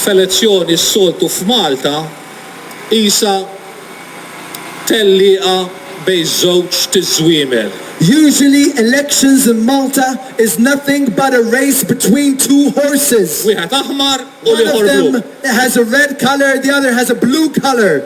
f'elezzjoni s-soltu f'Malta qisha tellieqa bejn żewġt iż-żwiemel. Usually elections in Malta is nothing but a race between two horses. Wieħed aħmar u l-ieħor blu. One of them has a red colour, the other has a blue colour.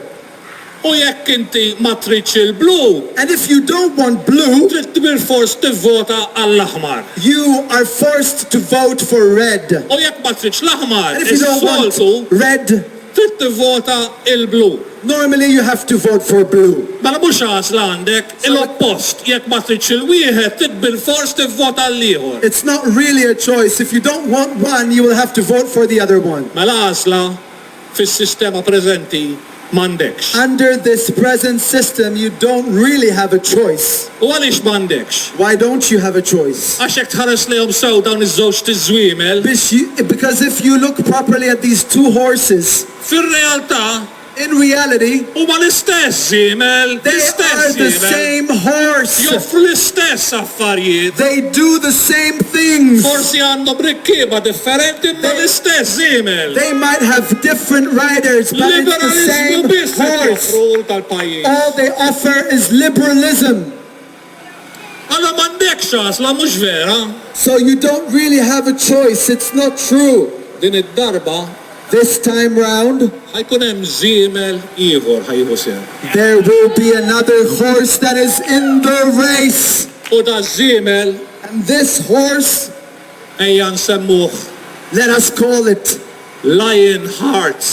U jekk inti ma tridx il-blu. And if you don't want blue. Trid bilfors tivvota għall-aħmar. You are forced to vote for red. U jekk ma tridx l-aħmar, is-soltu. Red. Trid tivvota il-blu. Normally you have to vote for blue. Mela mhux għażla għandek, il-oppost, jekk ma tridx il-wieħed, trid bilfors tivvota għall-ieħor. It's not really a choice, if you don't want one, you will have to vote for the other one. Mela għażla. fis-sistema preżenti m'għandekx. Under this present system you don't really have a choice. U għaliex m'għandekx? Why don't you have a choice? Għax jekk tħares lejhom sew dawn iż-żewġ tiżwiemel. Biex j, because if you look properly at these two horses. Fir-realtà. In reality. Huma l-istess żiemel, l-istess żiemel. They are the same horse. Joffru l-istess. affarijiet. They do the same things. Forsi għandhom rikkieba differenti imma l-istess żiemel. They might have different riders but it's the same horse. All they offer is liberalism. Allura m'għandekx għażla, mhux vera? So you don't really have a choice, it's not true. Din id-darba, This time round. Ħa jkun hemm żiemel ieħor ħa jieħu sehem. There will be another horse that is in the race. U daż-żiemel. And this horse. Ejja nsemmuh. Let us call it. Lion heart.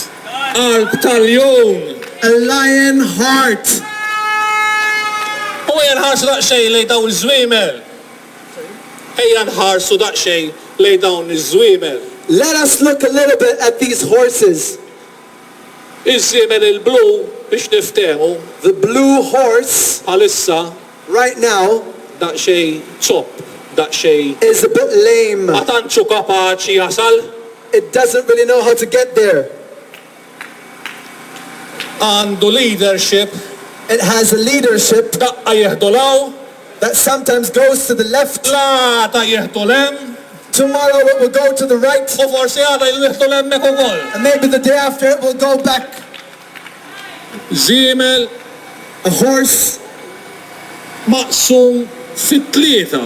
Qalb ta' ljun. A lion heart. U jenħarsu daqsxejn lejn dawn iż-żwiemel. Ejja nħarsu daqsxejn lejn dawn iż-żwiemel. Let us look a little bit at these horses. Iż-żiemel il-blu, biex niftehmu. The blue horse. Bħalissa. Right now. Daqsxejn zopp, daqsxejn. Is a bit lame. Ma tantx hu kapaċi jasal. It doesn't really know how to get there. għandu leadership. It has a leadership. Daqqa jieħdu 'l hawn. That sometimes goes to the left. L-għada jieħdu 'l hemm. Tomorrow it will go to the right. U forsi għada jieħdu 'l hemmhekk ukoll. And maybe the day after it will go back. Żiemel. A horse. maqsum fi tlieta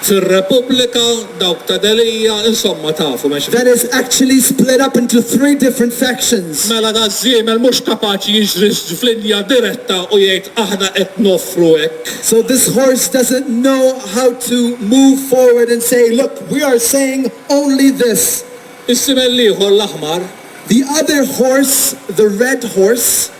fir-Repubblika, dawk ta' Delia, insomma tafu mhux hekk? That is actually split up into three different factions. Mela daż-żiemel mhux kapaċi jiġri f'linja diretta u jgħid aħna qed noffru hekk. So this horse doesn't know how to move forward and say look we are saying only this. Is-żiemel l-ieħor l-aħmar. The other horse, the red horse.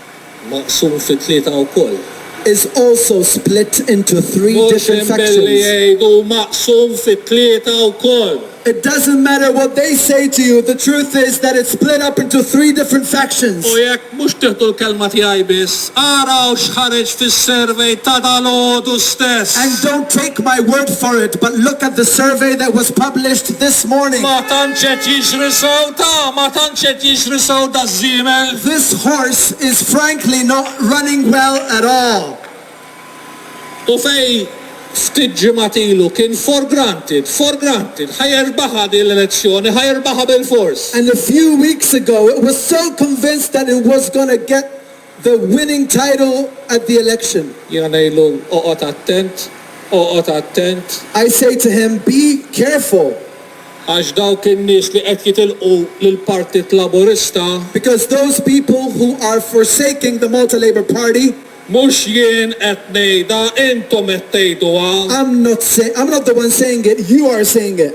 maqsum fi tlieta wkoll. is also split into three different sections. Mhux hemm billi jgħid hu maqsum fi tlieta wkoll. It doesn't matter what they say to you, the truth is that it's split up into three different sections. U jekk mhux tieħdu l-kelma tiegħi biss, araw x'ħareġ fis-survey ta' dalgħodu stess. And don't take my word for it, but look at the survey that was published this morning. Ma tantx qed jiġri sewda, ma tantx qed jiġri sewda. żiemel. This horse is frankly not running well at all. U fejn ftit ġimgħat ilu kien for granted, for granted, ħa jerbaħha din l-elezzjoni, ħa jirbaħha bilfors. And a few weeks ago it was so convinced that it was gonna get the winning title at the election. Jiena ngħidlu, Oqgħod attent, oqgħod attent. I say to him, Be careful. Għax dawk in-nies li qed jitilqu lill-Partit Laburista. Because those people who are forsaking the Malta Labour Party. Mhux jien qed ngħidha, intom qed tgħiduha. I'm not say, I'm not the one saying it, you are saying it.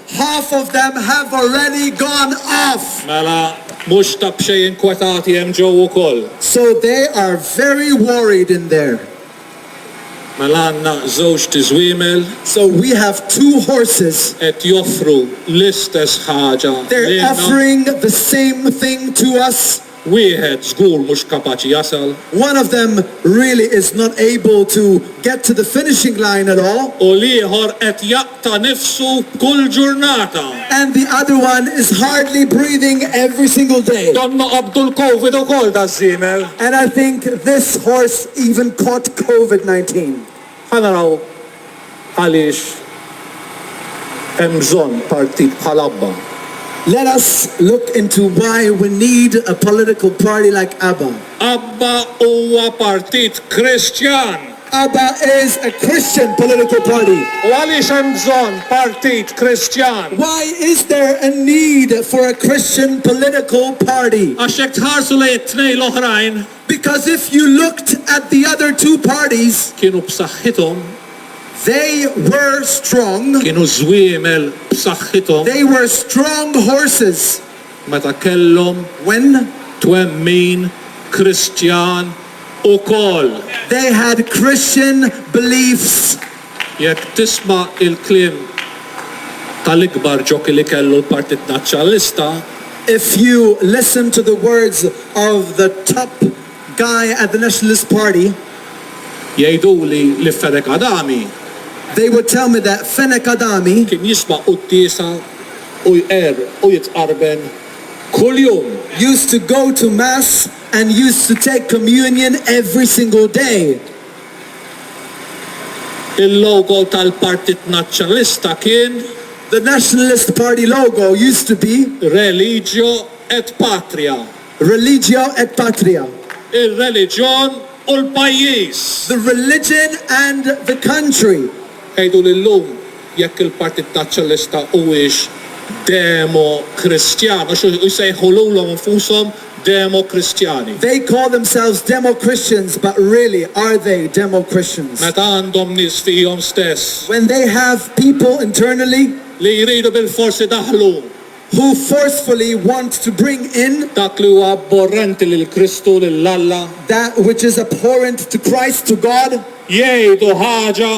Half of them have already gone off! Mela, mhux ta' b'xejn inkwetati hemm ġewwa wkoll. So they are very worried in there. Mela għandna żewġt iżwiemel. So we have two horses. Qed joffru l-istess ħaġa lilna. They're offering the same thing to us. Wieħed żgur mhux kapaċi jasal. One of them really is not able to get to the finishing line at all. U l-ieħor qed jaqta' nifsu kull ġurnata. And the other one is hardly breathing every single day. Donnha qabdu l-Covid ukoll daż-żiemel. And I think this horse even caught Covid 19. Ħa naraw għaliex hemm bżonn partit bħal Abba. Let us look into why we need a political party like Abba. Abba huwa partit Kristjan. Abba is a Christian political party. U għaliex hemm bżonn partit Kristjan? Why is there a need for a Christian political party? Għax jekk tħarsu lejn it-tnejn l-oħrajn, Because if you looked at the other two parties. Kienu b'saħħithom. They were strong. Kienu żwiemel b'saħħithom. They were strong horses. Meta kellhom. When. Twemmin Kristjan ukoll. They had Christian beliefs. Jekk tisma' il-kliem tal-ikbar ġokey li kellu l-Partit Nazzjonalista, If you listen to the words of the top guy at the Nationalist Party, jgħiduli li Fenech Adami, they would tell me that Fenech Adami, kien jisma' quddiesa u jqerr u jitqarben kuljum. used to go to mass and used to take communion every single day. Il-logo tal-Partit Nazzjonalista kien. The Nationalist Party logo used to be. Religio et Patria. Religio et Patria. Ir-reliġjon u l-pajjiż. The religion and the country. Għiduli llum jekk il-Partit Nazzjonalista huwiex Demo-Kristjan, għax hu jsejħu lulhom infushom Demo-Kristjani. They call themselves Demo-Christians but really are they Demo-Christians? Meta għandhom nies fihom stess. When they have people internally. Li jridu bilfors idaħħlu. Who forcefully want to bring in. Dak li huwa abborrenti lil Kristu, lil Alla. That which is abhorrent to Christ, to God. Jgħidu ħaġa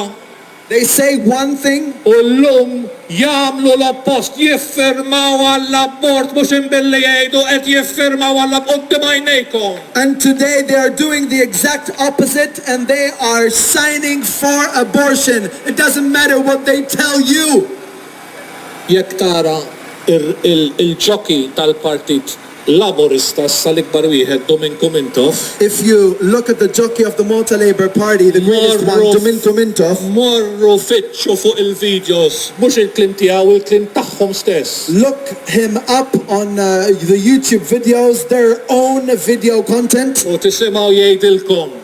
They say one thing. U llum jagħmlu l-oppost, jiffirmaw għall-abort mhux imbilli jgħidu qed jiffirmaw għall-ab quddiem għajnejkom. And today they are doing the exact opposite and they are signing for abortion. It doesn't matter what they tell you. Jekk tara il-jockey tal-partit Laburista issa l-ikbar wieħed Dominku Mintoff. If you look at the jockey of the Malta Labour Party the greatest one Dominku Mintoff. Morru fittxu fuq il-videos mhux il-kliem tiegħu il-kliem tagħhom stess. Look him up on the YouTube videos their own video content. U tisimgħu jgħidilkom.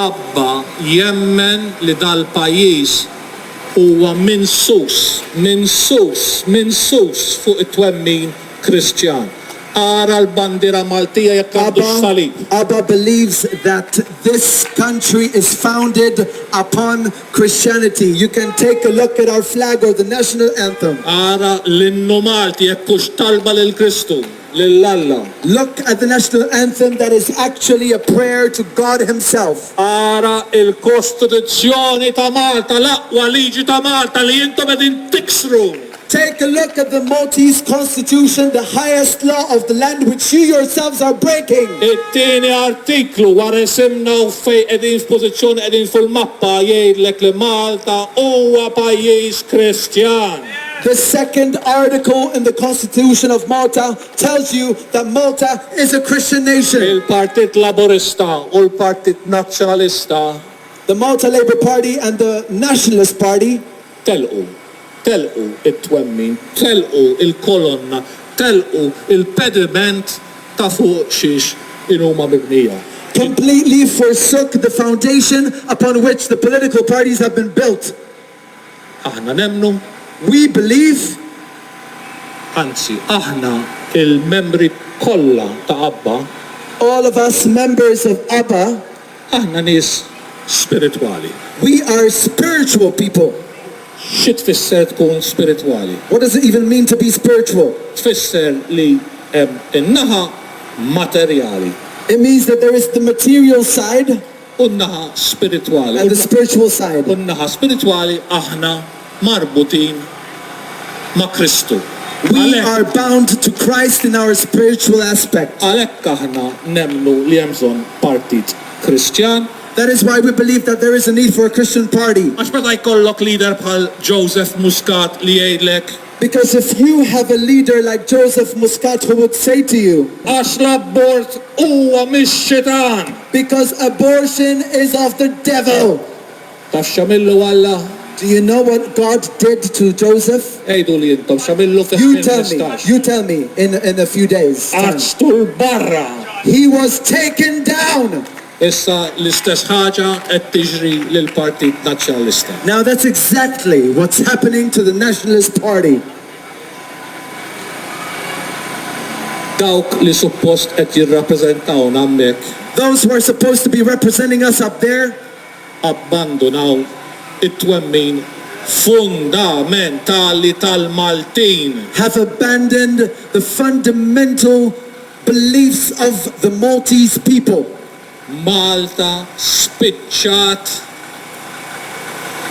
Abba jemmen li dal-pajjiż huwa minsus, minsus, minsus fuq it-twemmin Kristjan. Ara l-bandiera Maltija jekk għandux salib. Abba believes that this country is founded upon Christianity. You can take a look at our flag or the national anthem. Ara l-innu Malti jekk hux talba lil Kristu. lil Alla. Look at the national anthem that is actually a prayer to God himself. Ara il-Kostituzzjoni ta' Malta, l-aqwa liġi ta' Malta li intom qegħdin tiksru. Take a look at the Maltese Constitution, the highest law of the land which you yourselves are breaking. It-tieni artiklu wara isimna u fejn qegħdin x'pożizzjoni qegħdin fil-mappa jgħidlek li Malta huwa pajjiż Kristjan. The second article in the constitution of Malta tells you that Malta is a Christian nation. Il-Partit Laburista u l-Partit Nazzjonalista. The Malta Labour Party and the Nationalist Party. Telqu. Telqu it-twemmin. Telqu il-kolonna. Telqu il-pediment ta' fuq xiex in huma mibnija. Completely forsook the foundation upon which the political parties have been built. Aħna nemmnu, we believe, anzi, aħna il-membri kollha ta' ABBA, All of us members of ABBA. Aħna nies spiritwali. We are spiritual people. Xi tfisser tkun spiritwali? What does it even mean to be spiritual? Tfisser li hemm in-naħa materjali. It means that there is the material side. u n-naħa spiritwali, and the spiritual side. u n-naħa spiritwali, aħna marbutin ma' Kristu. We are bound to Christ in our spiritual aspect. Għalhekk aħna nemmnu li hemm bżonn partit Kristjan. That is why we believe that there is a need for a Christian party. Għax meta jkollok leader bħal Joseph Muscat li jgħidlek, Because if you have a leader like Joseph Muscat who would say to you. Għax l-abort huwa mix-xitan. Because abortion is of the devil. Taf x'għamillu Alla? Do you know what God did to Joseph? Għiduli intom x'għamillu fi You tell me, you tell me in in a few days. Għaġtu 'l barra. He was taken down. Issa l-istess ħaġa qed tiġri lill-Partit Nazzjonalista. Now that's exactly what's happening to the Nationalist Party. Dawk li suppost qed jirrappreżentawna hammhekk. Those who are supposed to be representing us up there. Abbandunaw it-twemmin fundamentali tal-Maltin. Have abandoned the fundamental. Beliefs of the Maltese people. Malta spiċċat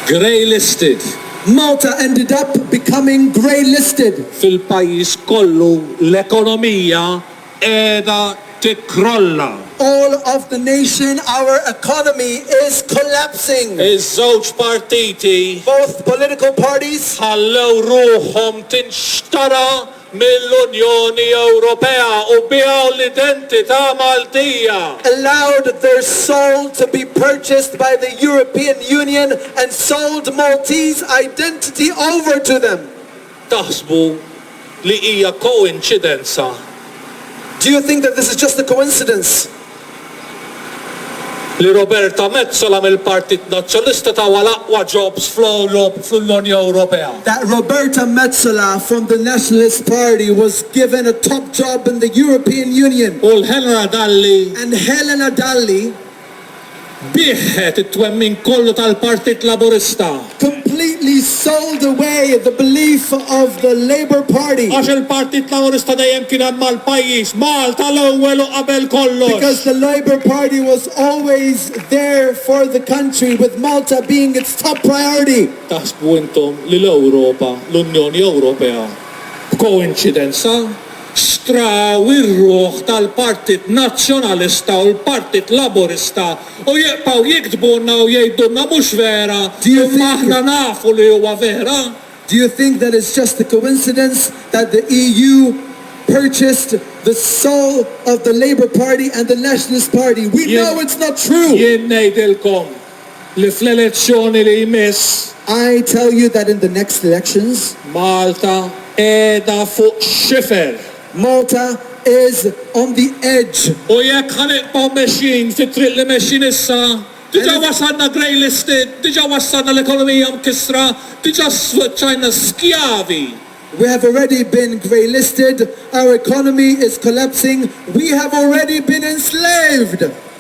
grey listed. Malta ended up becoming grey listed. Fil-pajjiż kollu l-ekonomija qiegħda tikkrolla. All of the nation our economy is collapsing. Iż-żewġ partiti. Both political parties. Ħallew ruħhom tinxtara mill-Unjoni Ewropea u biegħu l-identità Maltija. allowed their soul to be purchased by the European Union and sold Maltese identity over to them. Taħsbu li hija koinċidenza? Do you think that this is just a coincidence? li Roberta Metsola mill-Partit Nazzjonlista tawha l-aqwa jobs fl-Ewrop fl-Unjoni Ewropea. That Roberta Metsola from the Nationalist Party was given a top job in the European Union. U l-Helena Dalli. And Helena Dalli. Biegħet it-twemmin kollu tal-Partit Laburista. Completely sold away the belief of the Labour Party. Għax il-Partit Laburista dejjem kien hemm għall-pajjiż, Malta l-ewwel u qabel kollox. Because the Labour Party was always there for the country with Malta being its top priority. Taħsbu intom li l-Ewropa, l-Unjoni Ewropea, b'koinċidenza, straw ir-ruħ tal-Partit Nazzjonalista u l-Partit Laburista u jibqgħu jiktbulna u jgħidulna mhux vera imma aħna nafu li huwa vera. Do you think that it's just a coincidence that the EU purchased the soul of the Labour Party and the Nationalist Party? We know it's not true! Jien ngħidilkom li fl-elezzjoni li jmiss. I tell you that in the next elections. Malta qiegħda fuq xifer. Malta is on the edge. U jekk ħa nibqgħu mexjin fit-triq li mexjin issa, diġà wasalna grey listed, diġà wassalna l-ekonomija mkissra, diġà sfaċċajna skjavi. We have already been grey listed, our economy is collapsing, we have already been enslaved!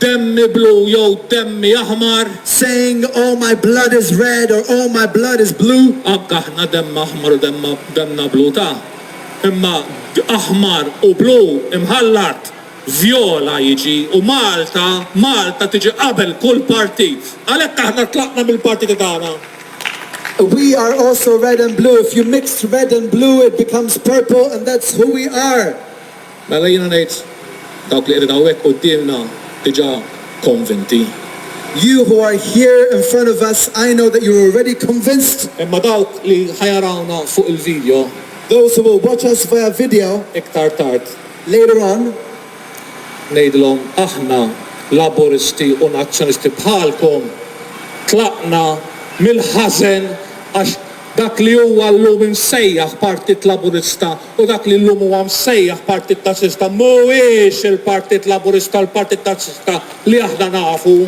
Demmi blu jew demmi aħmar. Saying, Oh my blood is red or Oh my blood is blue. Anke aħna demm aħmar u demm demmna blu ta. Imma aħmar u blu imħallat. Vjola jiġi u Malta, Malta tiġi qabel kull partit. Għalhekk aħna tlaqna mill-partiti tagħna. We are also red and blue, if you mix red and blue it becomes purple and that's who we are. Mela jiena ngħid, dawk li qegħdin hawnhekk quddiemna diġà konvinti. You who are here in front of us, I know that you're already convinced. Imma dawk li ħa jarawna fuq il-video. Those who will watch us via video. Iktar tard. Later on. Ngħidilhom, aħna, Laburisti u Nazzjonisti bħalkom, tlaqna mill-ħażen għax dak li huwa llum imsejjaħ Partit Laburista U dak li llum huwa msejjaħ Partit Laburista mhuwiex il-Partit Laburista, l-Partit Laburista li aħna nafu.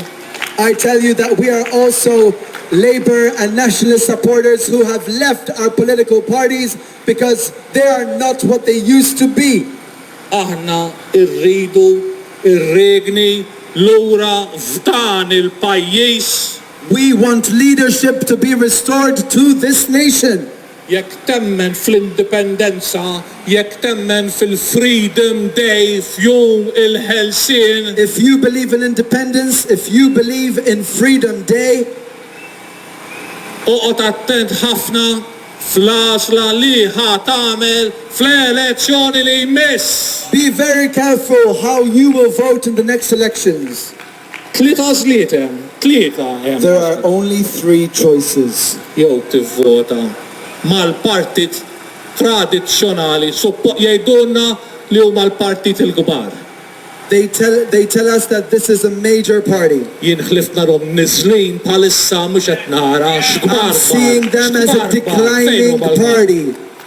I tell you that we are also Labour and Nationalist supporters who have left our political parties because they are not what they used to be. Aħna rridu r-riegni lura f'dan il-pajjiż. We want leadership to be restored to this nation. Jekk temmen fl-indipendenza, jekk temmen fil-freedom day, f'jum il-ħelsien. If you believe in independence, if you believe in freedom day. Oqgħod attent ħafna fl-għażla li ħa tagħmel fl-elezzjoni li jmiss! Be very careful how you will vote in the next elections. Tliet għażliet hemm, tlieta hemm. There are only three choices. Jew tivvota mal-partit tradizzjonali, suppo, jgħidulna li huma l-partiti l-kbar. They tell, they tell us that this is a major party. Jien ħlift narhom niżlin bħalissa mhux qed nara x'kbar bar, x'kbar bar, fejn huma l-bar?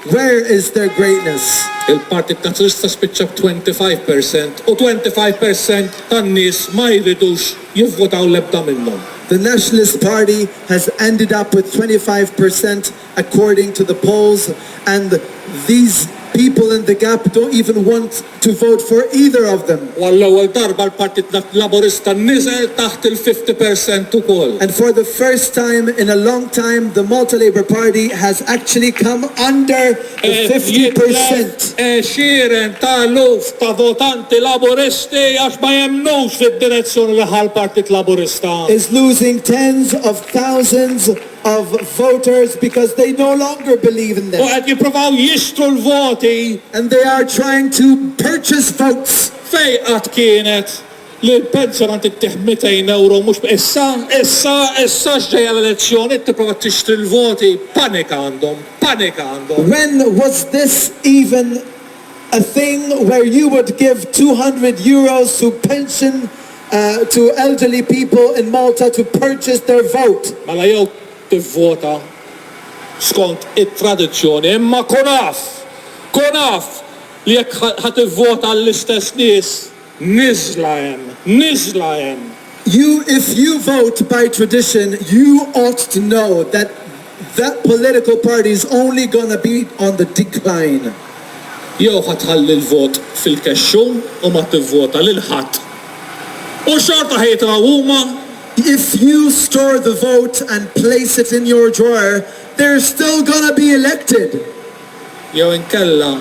Where is their greatness? Il-Partit Nazzjonalista spiċċa b' 25 per cent u 25 per cent tan-nies ma jridux jivvotaw l-ebda minnhom. The Nationalist Party has ended up with 25 per cent according to the polls and these people in the gap don't even want to vote for either of them. U għall-ewwel darba l-Partit Laburista niżel taħt il-fifty percent ukoll. And for the first time in a long time the Malta Labour Party has actually come under the fifty percent. Qed jitlef għexieren ta' eluf ta' votanti Laburisti għax ma jemmnux fid-direzzjoni li ħa l-Partit Laburista. Is losing tens of thousands of voters because they no longer believe in them. U qed jippruvaw jixtru l-voti. And they are trying to purchase votes. Fejn qatt kienet li l-pensjonant ittih 200 ewro mhux b' issa, issa, issa x'ġejja l-elezzjoni tipprova tixtri l-voti? Panika għandhom, panika għandhom. When was this even a thing where you would give 200 euros to pension to elderly people in Malta to purchase their vote. Mela jew tivvota skont it-tradizzjoni imma kun af, kun af li jekk ħa tivvota għall-istess nies niżla hemm, niżla hemm. You if you vote by tradition you ought to know that That political party is only gonna be on the decline. Jew ħa tħalli l-vot fil-kexxun u ma tivvota lil ħadd u xorta ħa jitilgħu huma. If you store the vote and place it in your drawer, they're still gonna be elected. Jew inkella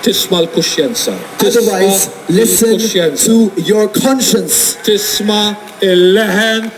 tisma' l-kuxjenza. Otherwise listen to your conscience. Tisma' il-leħen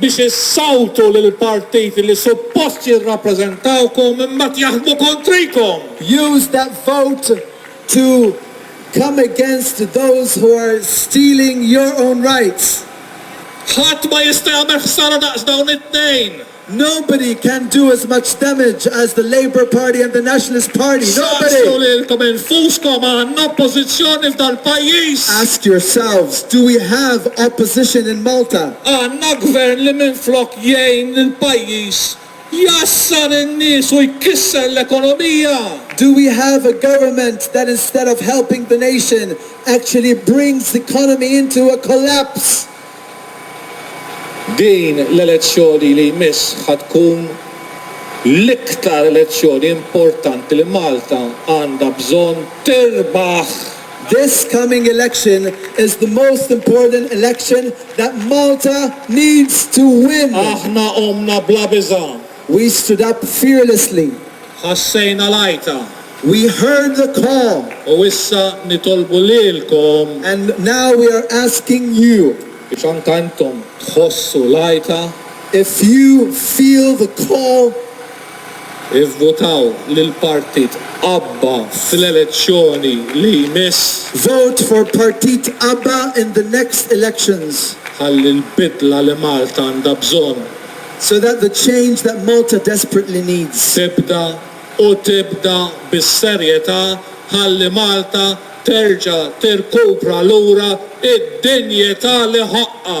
biex issawtu lill-partiti li suppost jirrappreżentawkom imbagħad jaħdmu kontrikom. Use that vote to come against those who are stealing your own rights. Ħadd ma jista' jagħmel ħsara daqs dawn it-tnejn. Nobody can do as much damage as the Labour Party and the Nationalist Party. Nobody! Saqsu lilkom infuskom, għandna oppożizzjoni f'dal-pajjiż? Ask yourselves, do we have opposition in Malta? Għandna Gvern li minflok jgħin lill-pajjiż jgħassar in-nies u jkisser l-ekonomija! Do we have a government that instead of helping the nation actually brings the economy into a collapse? Din l-elezzjoni li jmiss ħa tkun l-iktar elezzjoni importanti li Malta għandha bżonn tirbaħ! This coming election is the most important election that Malta needs to win. Aħna qomna bla biża'. We stood up fearlessly. Ħassejna l-għajta. We heard the call. U issa nitolbu lilkom. And now we are asking you. Biex anke intom tħossu l-għajta. If you feel the call. Ivvutaw lil partit abba fl-elezzjoni li jmiss. Vote for partit abba in the next elections. Ħalli l-bidla li Malta għandha bżonn. So that the change that Malta desperately needs. Tibda, u tibda bis-serjetà ħalli Malta terġa' tirkupra lura d-dinjità li ħoqqha.